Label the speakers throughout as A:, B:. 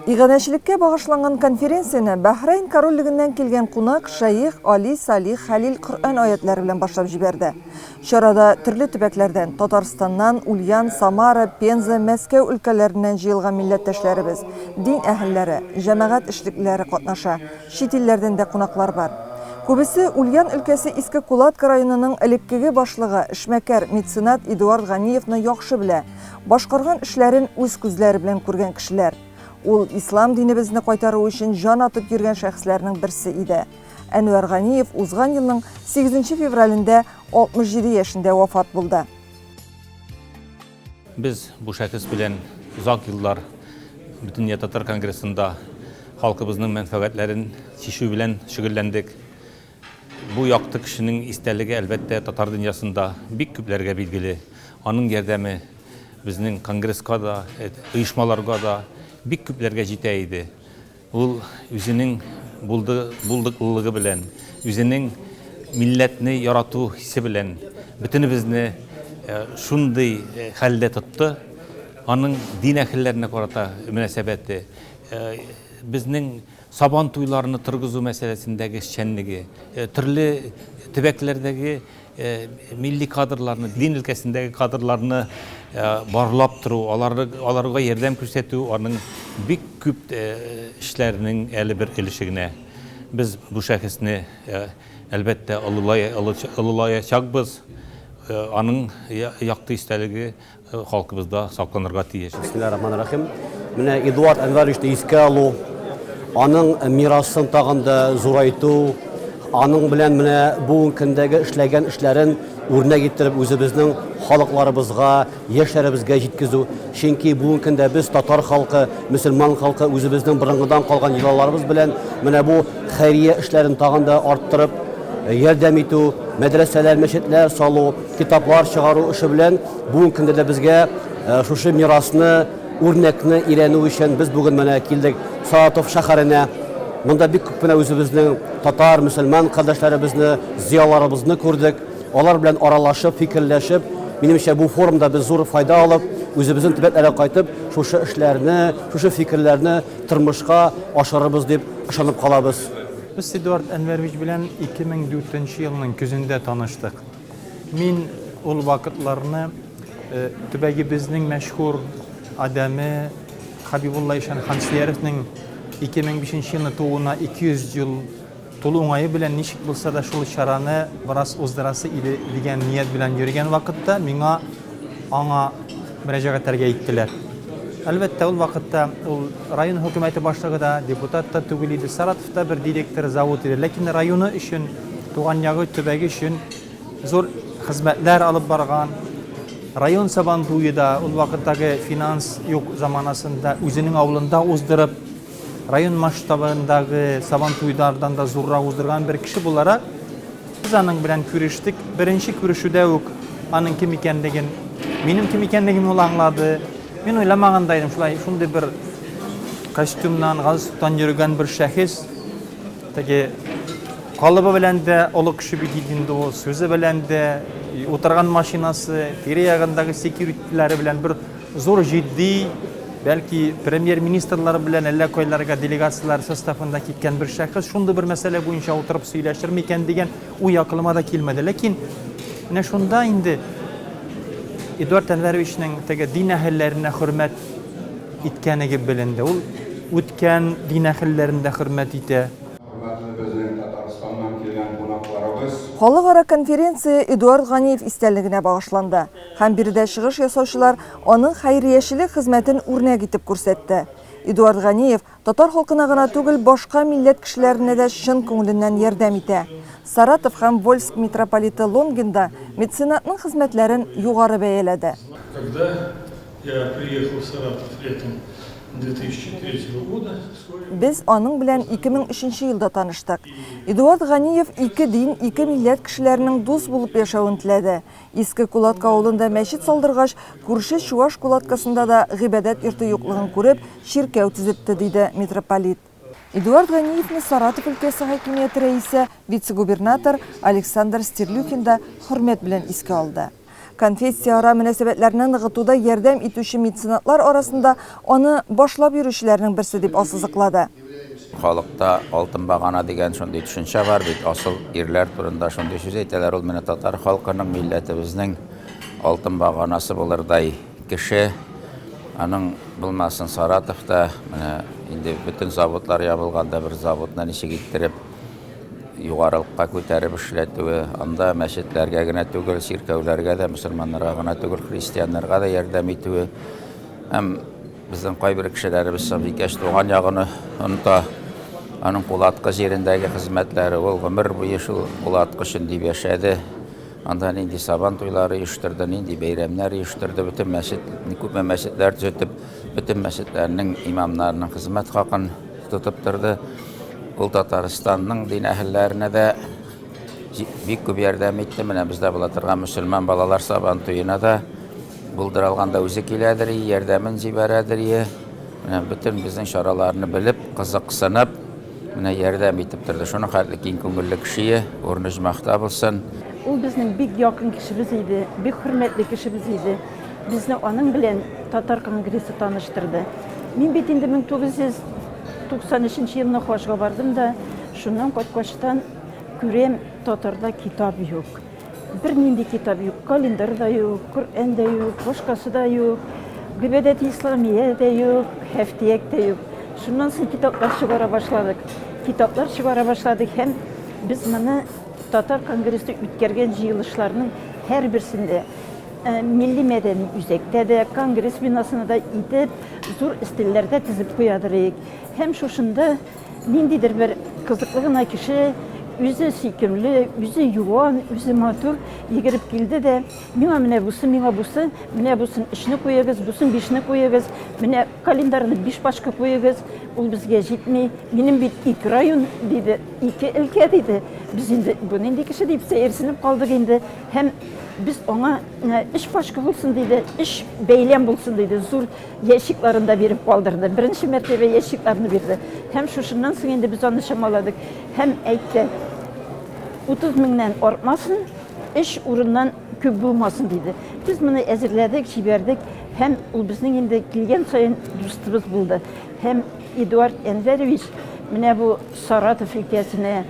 A: Иганәчелеккә багышланган конференцияне Бәһрәйн Корольлегеннән килгән кунак, шәех Али Салих Хәлил Коръән аятьләре белән башлап җибәрде. Чарада төрле төбәкләрдән, Татарстаннан, Ульян, Самара, Пенза, Мәскәү өлкәләреннән җыелган милләттәшләребез, дин әһелләре, җәмәгать эшлеклеләре катнаша. Чит илләрдән дә кунаклар бар. Күбесе Ульян өлкәсе Иске Кулатка районының элеккеге башлыгы, эшмәкәр, меценат Эдуард Ганиевны яхшы белә, башкарган эшләрен үз күзләре белән күргән кешеләр. Ул ислам динебезне кайтару өчен җан атып йөргән шәхесләрнең берсе иде. Әнвәр Ганиев узган елның сигезенче февралендә 67 яшендә вафат булды.
B: Без бу шәхес белән озак еллар Бөтендөнья татар конгрессында халкыбызның мәнфәгатьләрен чишү белән шөгыльләндек. Бу якты кешенең истәлеге, әлбәттә, татар дөньясында бик күпләргә билгеле. Аның ярдәме безнең конгресска да, оешмаларга да, бик күпләргә җитә иде. Ул үзенең булды, булдыклылыгы белән, үзенең милләтне ярату хисе белән бөтенебезне шундый хәлдә тотты. Аның дин әһелләренә карата мөнәсәбәте, безнең Сабан туйларны торгызу мәсьәләсендәге эшчәнлеге, төрле төбәкләрдәге милли кадрларны, дин өлкәсендәге кадрларны барлап тору, аларга ярдәм күрсәтү, аның бик күп эшләренең әле бер өлеше генә. Без бу шәхесне, әлбәттә, олылаячакбыз, аның якты истәлеге. халкыбызда сакланырга тиеш. Бисмиллаһир-рахманир-рахим.
C: Менә Эдуард Әнвәровичны искә алу, аның мирасын тагын да зурайту, аның белән менә бүгенге көндәге эшләгән эшләрен үрнәк иттереп үзебезнең халыкларыбызга, яшьләребезгә җиткезү. Чөнки бүгенге көндә без татар халкы, мөселман халкы үзебезнең борынгыдан калган йолаларыбыз белән менә бу хәйрия эшләрен тагын да арттырып, ярдәм итү, мәдрәсәләр, мәчетләр салу, Китаплар чыгару эше белән бүген көндә дә безгә шушы мирасны, үрнәкне өйрәнү өчен без бүген менә килдек Саратов шәһәренә. Монда бик күп менә үзебезнең татар, мөселман кардәшләребезне, зыяларыбызны күрдек. Алар белән аралашып, фикерләшеп, минемчә, бу форумда без зур файда алып, үзебезнең төбәкләргә кайтып, шушы эшләрне, шушы фикерләрне тормышка ашырырбыз дип ышанып калабыз. Без Эдуард
D: Әнвәрович белән 2004 елның көзендә таныштык. Мин ул вакытларны төбәгебезнең мәшһүр адәме Хәбибулла ишан Хансөяровның 2005 елны тууына 200 ел тулу уңае белән ничек булса да шул чараны бераз уздырасы иде дигән ният белән йөргән вакытта миңа аңа мөрәҗәгать итәргә әйттеләр. Әлбәттә, ул вакытта ул район хөкүмәте башлыгы да, депутат та түгел иде. Саратов Монда бер директор завод иде, ләкин районы өчен, туган ягы, төбәге өчен зур хезмәтләр алып барган. Район Сабантуе да ул вакыттагы финанс юк заманасында үзенең авылында уздырып, район масштабындагы Сабантуйлардан да зуррак уздырган бер кеше буларак, без аның белән күрештек. Беренче күрешүдә үк аның кем икәнлеген, минем кем икәнлегемне ул аңлады. Мин уйламаган да идем, шулай шундый бер костюмнан, галстуктан йөргән бер шәхес, теге калыбы белән дә олы кеше бит инде ул, сүзе белән дә, утырган машинасы, тирә ягындагы секьюритиләре белән бер зур җитди, бәлки премьер-министрлар белән әллә кайларга делегацияләр составында киткән бер шәхес шундый бер мәсьәлә буенча утырып сөйләшер микән дигән Уй акылыма да килмәде. Ләкин менә шунда инде Эдуард Әнвәровичның теге дин әһелләренә хөрмәт иткәнеге беленде. Ул үткән дин әһелләрен дә хөрмәт итә. Хөрмәтле безнең Татарстаннан килгән
A: кунакларыбыз! Халыкара конференция Эдуард Ганиев истәлегенә багышланды һәм биредә чыгыш ясаучылар аның хәйриячелек хезмәтен үрнәк итеп күрсәтте. Эдуард Ганиев Татар халкына гына түгел, башка милләт кешеләренә дә чын күңеленнән ярдәм итә. Саратов һәм Вольск митрополиты Лонгин да меценатның хезмәтләрен югары бәяләде. Когда
E: я приехал в Саратов летом 2003 года, свой. Без аның
A: белән 2003 елда таныштык. Эдуард Ганиев ике дин, ике милләт кешеләренең дус булып яшәвен теләде. Иске Кулатка авылында мәчет салдыргач, күрше чуаш Кулаткасында да гыйбадәт йорты юклыгын күреп, чиркәү төзетте, диде митрополит. Эдуард Ганиевны Саратов өлкәсе хакимияте рәисе, вице-губернатор Александр Стерлюхин да хөрмәт белән искә алды. Конфессияара мөнәсәбәтләрне ныгытуда ярдәм итүче меценатлар арасында аны башлап йөрүчеләрнең берсе дип ассызыклады. Халыкта
F: алтын багана дигән шундый төшенчә бар бит, асыл ирләр турында шундый сүз әйтәләр, ул менә татар халкының, милләтебезнең алтын баганасы булырдай кеше. Аның булмасын Саратовта, менә инде бөтен заводлар ябылганда бер заводны ничек иттереп югарылыкка күтәреп эшләтүе, анда мәчетләргә генә түгел, чиркәүләргә дә, мөселманнарга гына түгел, христианнарга да ярдәм итүе һәм Безнең кайбер кешеләребез Сабикәч туган ягын оныта, аның Пулаткы җирендәге хезмәтләре, ул гомер буе шул Пулаткы өчен дип яшәде, анда нинди Сабан туйлары оештырды, нинди бәйрәмнәр оештырды, бөтен мәчет, күпме мәчетләр төзетеп, бөтен мәчетләрнең имамнарының хезмәт хакын тотып торды. Ул Татарстанның дин әһелләренә дә бик күп ярдәм итте. Менә бездә була торган мөселман балалар Сабан туена да Булдыра алганда үзе киләдерие, ярдәмен җибәрәдерие. Менә бөтен безнең чараларны белеп, кызыксынып, менә ярдәм итеп торды. Шуның хәтле киң күңелле кешее, урыны җмахта булсын. Ул безнең бик
G: якын кешебез иде, бик хөрмәтле кешебез иде. Безне аның белән татар конгрессы таныштырды. Мин бит инде 1993 елны хаҗга бардым да, шуннан кайткачтан күрәм, татарда китап юк. Бер нинди китап юк, календарь да юк, Коръән дә юк, башкасы да юк, Гыйбадәт исламия дә юк, Һәфтияк тә юк. Шуннан соң китаплар чыгара башладык. Китаплар чыгара башладык һәм без моны татар конгрессы үткәргән җыелышларның һәрберсендә э, милли мәдәни үзәктә дә, конгресс бинасында да итеп, зур өстәлләрдә тезеп куядыр идек. Һәм шушында Ниндидер бер кызыклы гына кеше, үзе сөйкемле, үзе юан, үзе матур йөгереп килде дә, миңа менә бусы, миңа бусы, менә бусын өчне куегыз, бусын бишне куегыз, менә календарны биш пачка куегыз, ул безгә җитми, минем бит ике район, диде, ике өлкә, диде. Без инде бу нинди кеше дип сәерсенеп калдык инде һәм без аңа өч пачка булсын, диде, өч бәйләм булсын, диде, зур Ящикларын да биреп калдырды. Беренче мәртәбә ящикларны бирде. Һәм шушыннан соң инде без аны чамаладык. Һәм әйтте, 30 меңнән артмасын, эш урыннан күп булмасын диде. Без моны әзерләдек, җибәрдек һәм ул безнең инде килгән саен дустыбыз булды. Һәм Эдуард Әнвәрович менә бу Саратов өлкәсенә,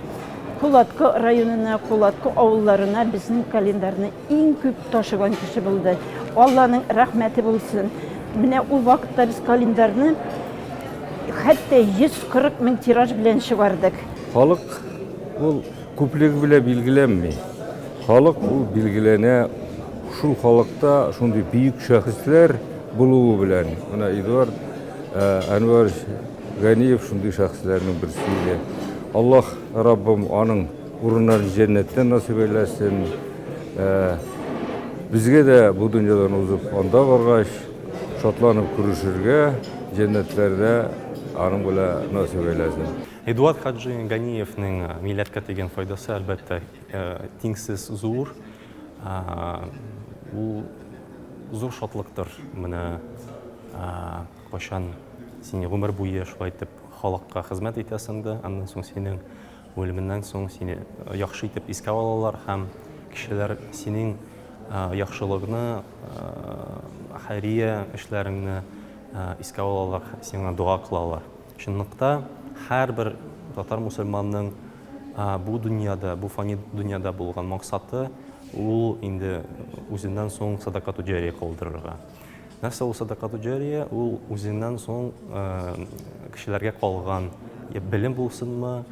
G: Кулатко районына, Кулатко авылларына безнең календарьны Иң күп ташыган кеше булды. Алланың рәхмәте булсын. Менә ул вакытта без календарьны хәтта 140 мең тираж белән чыгардык. Халык
H: ул күплеге белән билгеләнми. Халык ул билгеләнә шул халыкта шундый бөек шәхесләр булуы белән. Менә Эдуард э, Әнвәр Ганиев шундый шәхесләрнең берсе иде. Аллаһ Раббым аның Урыннары җәннәттән насыйп әйләсен. Безгә дә бу дөньядан узып анда баргач шатланып күрешергә, җәннәтләрдә аның белән насыйп әйләсен. Эдуард хаҗи
I: Ганиевның милләткә тигән файдасы, әлбәттә, тиңсез зур. Ул зур шатлыктыр, менә кайчан син гомер буе шулай итеп халыкка хезмәт итәсең дә, аннан соң синең Үлеменнән соң сине яхшы итеп искә алалар һәм кешеләр синең яхшылыгны, хәйрия эшләреңне искә алалар, сиңа дога кылалар. Чынлыкта, һәрбер татар мусульманның бу дөньяда, бу фани дөньяда булган максаты, ул инде үзеннән соң садакату-җария калдырырга. Нәрсә ул сәдакату җәрия? Ул үзеннән соң кешеләргә калган, я белем булсынмы,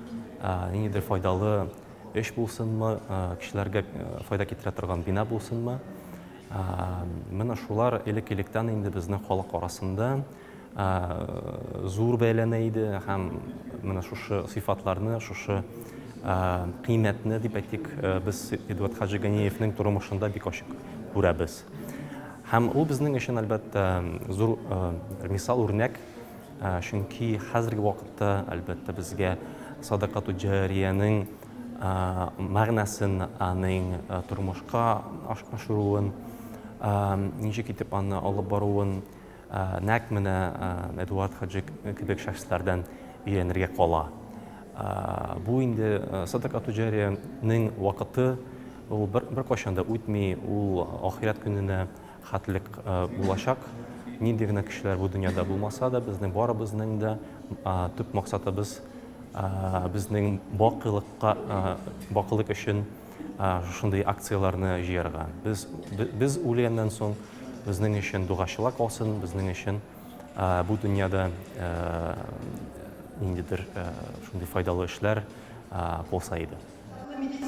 I: ниндидер файдалы эш булсынмы, кешеләргә файда китерә торган бина булсынмы, менә шулар элек-электән инде безнең халык арасында зур бәяләнә иде һәм менә шушы сыйфатларны, шушы кыйммәтне, дип әйтик, без Эдуард Хаҗиганиевның тормышында бик ачык күрәбез. Һәм ул безнең өчен, әлбәттә, зур мисал, үрнәк, чөнки хәзерге вакытта, әлбәттә, безгә садакату җариянең мәгънәсен, аның тормышка ашыруын, ничек итеп аны алып баруын, Нәкъ менә Эдуард хаҗи кебек шәхесләрдән өйрәнергә кала. Бу инде садака туҗарияның вакыты, ул беркайчан да үтми, ул ахирәт көненә хәтлек булачак. Нинди генә кешеләр бу дөньяда булмаса да, безнең барыбызның да төп максатыбыз, безнең бакыйлыкка, бакыйлык өчен, шушындый акцияләрне җыярга. Без, без үлгәннән соң, безнең өчен дугачылар калсын, безнең өчен бу дөньяда ниндидер шундый файдалы эшләр булса иде.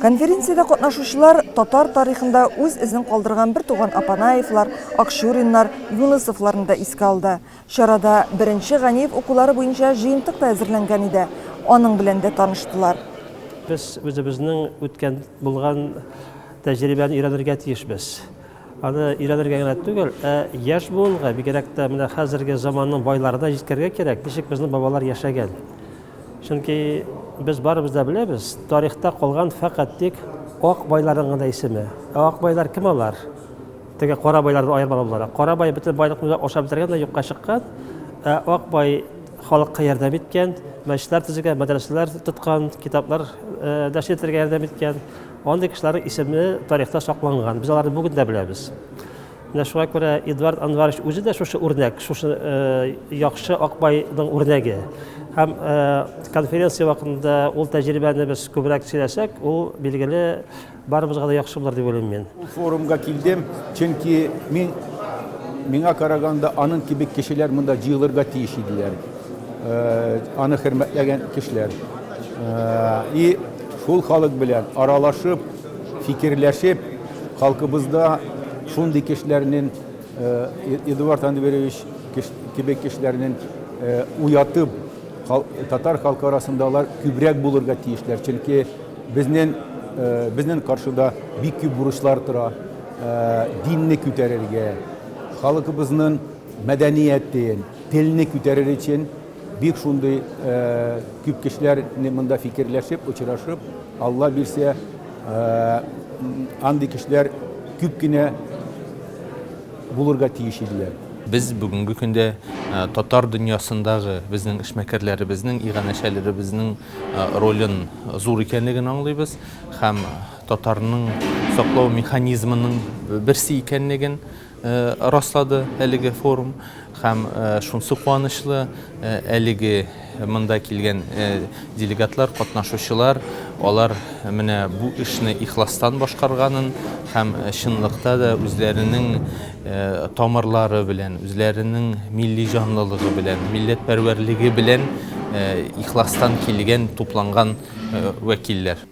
I: Конференциядә
A: катнашучылар татар тарихында үз эзен калдырган бертуган Апанаевлар, Акчуриннар, Юнысовларны да искә алды. Чарада беренче Ганиев укулары буенча җыентык та әзерләнгән иде, аның белән дә таныштылар. Без
J: үзебезнең үткән, булган тәҗрибәне өйрәнергә тиешбез. Аны өйрәнергә генә түгел, ә яшь буынга, бигрәк тә менә хәзерге заманның байларына җиткерергә кирәк, ничек безнең бабалар яшәгән. Чөнки без барыбыз да беләбез, тарихта калган фәкать тик ак байларның гына исеме. Ә ак байлар кем алар? Теге кара байлардан аермалы буларак. Кара бай бөтен байлыкны да ашап бетергән дә юкка чыккан. Ә ак бай халыкка ярдәм иткән, мәчетләр төзегән, мәдрәсәләр тоткан, китаплар э, нәшер итәргә ярдәм иткән. Андый кешеләрнең исеме тарихта сакланган. Без аларны бүген дә беләбез. Менә шуңа күрә Эдуард Анварович үзе дә шушы үрнәк, шушы э, яхшы Акбайның үрнәге. Һәм э, конференция вакытында ул тәҗрибәне без күбрәк сөйләсәк, ул билгеле Барыбызга да яхшы булыр дип уйлыйм мин. Бу форумга килдем,
K: чөнки мин, миңа караганда, аның кебек кешеләр монда җыелырга тиеш иделәр. Аны хөрмәтләгән кешеләр. И шул халык белән аралашып, фикерләшеп, халкыбызда шундый кешеләрнең, Эдуард Анверевич кебек кешеләрнең уятып, Татар халкы арасында алар күбрәк булырга тиешләр, чөнки безнен э, безнен каршыда бик күп бурычлар тора. Э, динне күтәрергә, халкыбызның мәдәниятен, телне күтәрер өчен бик шундый э, күп кешеләр монда фикерләшеп, очрашып, Алла бирсә, андый кешеләр күп кенә булырга тиеш иделәр. Без бүгенге
B: көндә татар дөньясындагы безнең эшмәкәрләребезнең, иганәчеләребезнең ролен зур икәнлеген аңлыйбыз һәм татарның саклау механизмының берсе икәнлеген раслады әлеге форум. Һәм шунсы куанычлы, әлеге монда килгән делегатлар, катнашучылар, алар менә бу эшне ихластан башкарганын һәм чынлыкта да үзләренең тамырлары белән, үзләренең милли җанлылыгы белән, милләтпәрвәрлеге белән ихластан килгән, тупланган вәкилләр.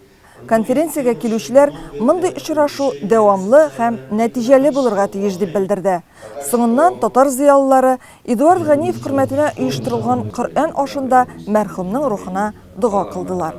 B: Конференциягә
A: килүчеләр мондый очрашу дәвамлы һәм нәтиҗәле булырга тиеш дип белдерде. Соңыннан татар зыялылары Эдуард Ганиев хөрмәтенә оештырылган Коръән ашында мәрхүмнең рухына дога кылдылар.